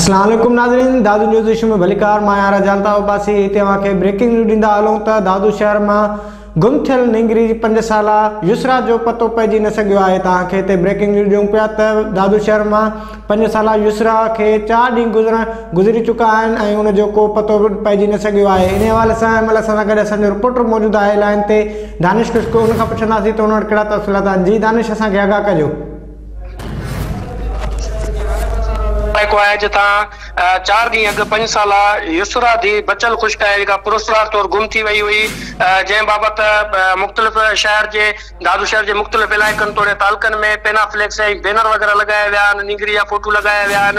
اسلام عليڪم ناظرين دادو نيوز ايشو ۾ ڀليڪار مان آهيان جانتا عباسي هتي اوهان کي بريڪنگ نيوز ڏيندا هلون ته دادو شهر مان گم ٿيل نينگري جي پنج سالا يسرا جو پتو پئجي نه سگهيو آهي ته اوهان کي هتي بريڪنگ نيوز ڏيون پيا ته دادو شهر مان پنج سالا يسرا کي چار ڏينهن گذرڻ گذري چڪا آهن ۽ ان جو ڪو پتو به پئجي نه سگهيو آهي انهي حوالي سان ان مهل اسان سان گڏ اسان جو رپورٽر موجود آهي لائين تي دانش خشڪو ان کان پڇنداسين ته ان وٽ ڪهڙا تفصيلات آهن جي دانش اسان کي آگاهه ڪجو. علائقو آهي جتان چار ڏينهن اڳ پنج سالا يسرا ڌيء بچل خشڪ آهي جيڪا پراسرار طور گم ٿي وئي هئي جنهن بابت مختلف شهر جي دادو شهر جي مختلف علائقن توڙي تعلقن ۾ پينا فليڪس ۽ بينر وغيره لڳايا ويا آهن، نينگري جا فوٽو لڳايا ويا آهن.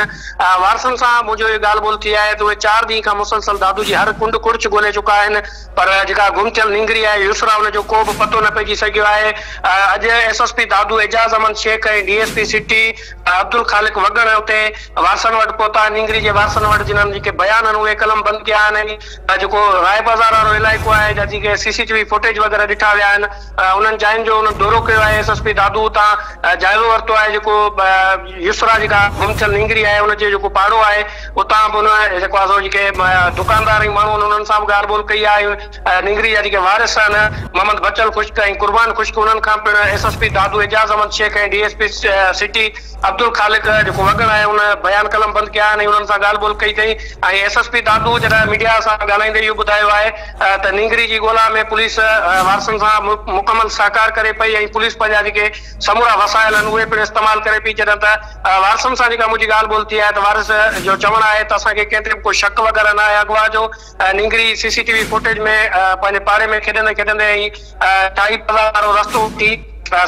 وارثن سان منهنجو اهو ڳالهه ٻولهه ٿي آهي ته اهي چار ڏينهن کان مسلسل دادو جي هر ڪنڊ ڪڙڇ ڳولهي چڪا آهن، پر جيڪا گم ٿيل نينگري آهي يسرا ان جو ڪو به پتو نه پئجي سگهيو آهي، اڄ S S P Dadu Ejaz Ahmed Shaikh ۽ D S P city Abdul Khaliq Wagan اتي وارثن وٽ پهتا، نينگري جي وارثن وٽ جنن جيڪي بيان آهن اهي قلمبند ڪيا آهن ۽ ھا جيڪو راء بازار وارو علائقو آھي جا جي ڪي C C T V footage وغيره ڏٺا ويا آھن انھن جاين جو انھن دورو ڪيو آھي ايس ايس پي دادو اتان جائزو ورتو آھي جيڪو يسرا جيڪا گم ٿيل نينگري آھي ان جو جيڪو پاڙو آھي اتان به انھن جيڪو آھي سو جي ڪي دڪاندار ۽ ماڻھو آھن انھن سان به ڳالھ ٻولھ ڪئي آھي نينگري جا جي ڪي وارث آھن محمد بچل خشڪ ۽ قربان خشڪ انھن کان پڻ S S P Dadu Ejaz Ahmed Shaikh ۽ D S P city Abdul Khaliq جيڪو وڳڻ آهي ان بيان قلم بند ڪيا آهن ۽ انهن سان ڳالهه ٻولهه ڪئي اٿئي ۽ ايس ايس پي دادو جڏهن ميڊيا سان ڳالهائيندي اهو ٻڌايو آهي ته نينگري جي ڳولا ۾ پوليس وارثن سان مڪمل سهڪار ڪري پئي ۽ پوليس پنهنجا جيڪي سمورا وسائل آهن اهي پڻ استعمال ڪري پئي جڏهن ته وارثن سان جيڪا منهنجي ڳالهه ٻولهه ٿي آهي ته وارث جو چوڻ آهي ته اسان کي ڪنهن تي به ڪو شڪ وغيره نه آهي اغوا جو نينگري C C T V footage ۾ پنهنجي پاڙي ۾ کيڏندي کيڏندي ۽ ٽائي پلازا وارو رستو وٺي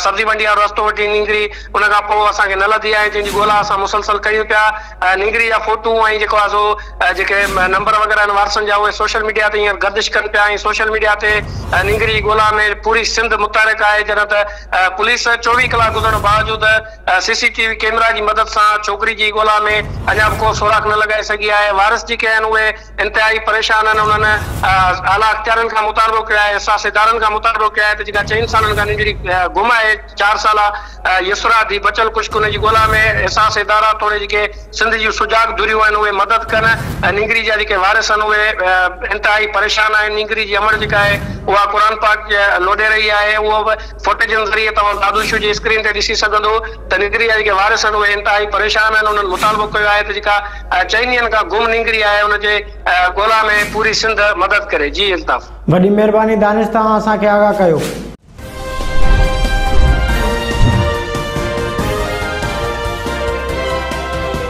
سبزي منڊي وارو رستو وٺي نينگري ان کان پوء اسان کي نه لڌي آهي جنهن جي ڳولا اسان مسلسل ڪريون پيا نينگري جا فوٽو ۽ جيڪو آهي سو جيڪي نمبر وغيره آهن وارثن جا اهي سوشل ميڊيا تي هينئر گردش ڪن پيا ۽ سوشل ميڊيا تي نينگري جي ڳولا ۾ پوري سنڌ متحرڪ آهي جڏهن ته پوليس چوويهه ڪلاڪ گذرڻ باوجود C C T V camera جي مدد سان ڇوڪري جي ڳولا ۾ اڃا به ڪو سوراخ نه لڳائي سگهي آهي وارث جيڪي آهن اهي انتهائي پريشان آهن انهن اعليٰ اختيارين کان مطالبو ڪيو آهي احساس ادارن کان مطالبو ڪيو آهي ته جيڪا چئن سالن کان ننڊڙي گم آهي چار سالا يسرا ڌي بچل ڪشڪ ان جي ڳولا ۾ احساس ادارا توڙي جيڪي سنڌ جون سجاڳ ڌريون آهن اهي مدد ڪن نينگري جا جيڪي وارث آهن اهي انتهائي پريشان آهن نينگري جي امڙ جيڪا آهي اها قرآن پاڪ لوڏي رهي آهي اهو به فوٽيجن ذريعي توهان دادو شو جي اسڪرين تي ڏسي سگهندو ته نينگري جا جيڪي وارث آهن اهي انتهائي پريشان آهن انهن مطالبو ڪيو آهي ته جيڪا چئن ڏينهن کان گم نينگري آهي ان جي ڳولا ۾ پوري سنڌ مدد ڪري جي الطاف. وڏي مھرباني دانش توهان اسان کي آگاھ ڪيو.